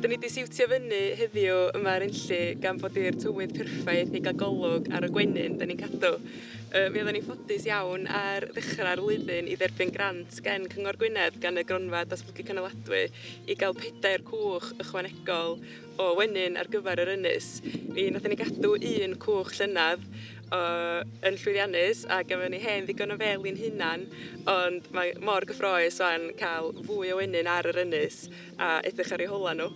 Dyn ni wedi siwtio fyny heddiw yma ar Enlli gan bod i'r tywydd perffaith i gael golwg ar y gwenyn dyn ni'n cadw. Yy mi oedden ni'n ffodus iawn ar ddechrau'r flwyddyn i dderbyn grant gen Cyngor Gwynedd gan y Gronfa Datblygu Cynaladwy i gael pedair cwch ychwanegol o wenyn ar gyfer yr ynys. Mi wnaethon ni gadw un cwch llynedd yn llwyddiannus a gafon ni hen ddigon o fel i'n hunan, ond mae mor gyffroes o'n cael fwy o wenyn ar yr ynys a edrych ar ei hola nhw.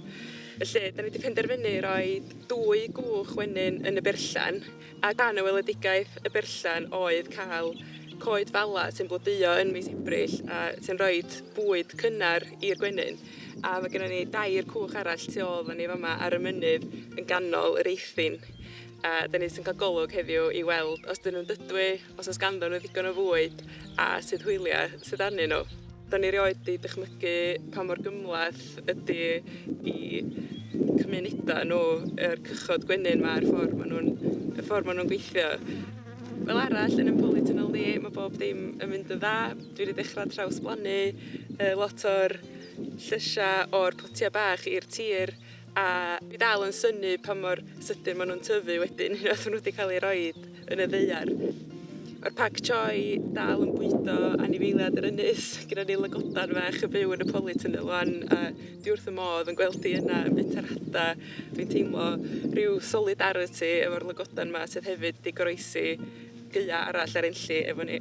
Felly, da ni wedi penderfynu rhoi dwy gwch wenyn yn y berllan A dan y weledigaeth, y berllan oedd cael coed fala sy'n blodeuo yn mis Ebrill a sy'n rhoi bwyd cynnar i'r gwenyn. A mae gennym ni dair cwch arall tu ôl fan ni fama ar y mynydd yn ganol yr eithin. A da ni jyst yn cael golwg heddiw i weld os dyn nhw'n dydwy, Os oes ganddyn nhw ddigon o fwyd a sut hwyliau sydd arnyn nhw. Da ni rioed di dychmygu pa mor gymhleth ydy i cymunedau nhw yr cychod gwenyn ma a'r ffordd maen nhw'n y ffordd maen nhw'n gweithio. Fel arall yn ein polytunnel ni mae bob dim yn mynd yn dda. Dwi wedi dechrau trawsblannu yy lot o'r llysiau o'r potiau bach i'r tir. A dwi dal yn synnu pa mor sydyn maen nhw'n tyfu wedyn unwaith maen nhw wedi cael eu rhoi yn y ddeiar. Mae'r pac choi dal yn bwydo anifeiliad yr ynys. Gyda ni lygodan fach yn byw yn y polytunnel wan a dwi wrth y modd yn gweld hi yna yn bwyta'r hada. Dwi'n teimlo rhyw solidarity efo'r lygodan yma sydd hefyd wedi goroesi gaeau arall ar enlli efo ni.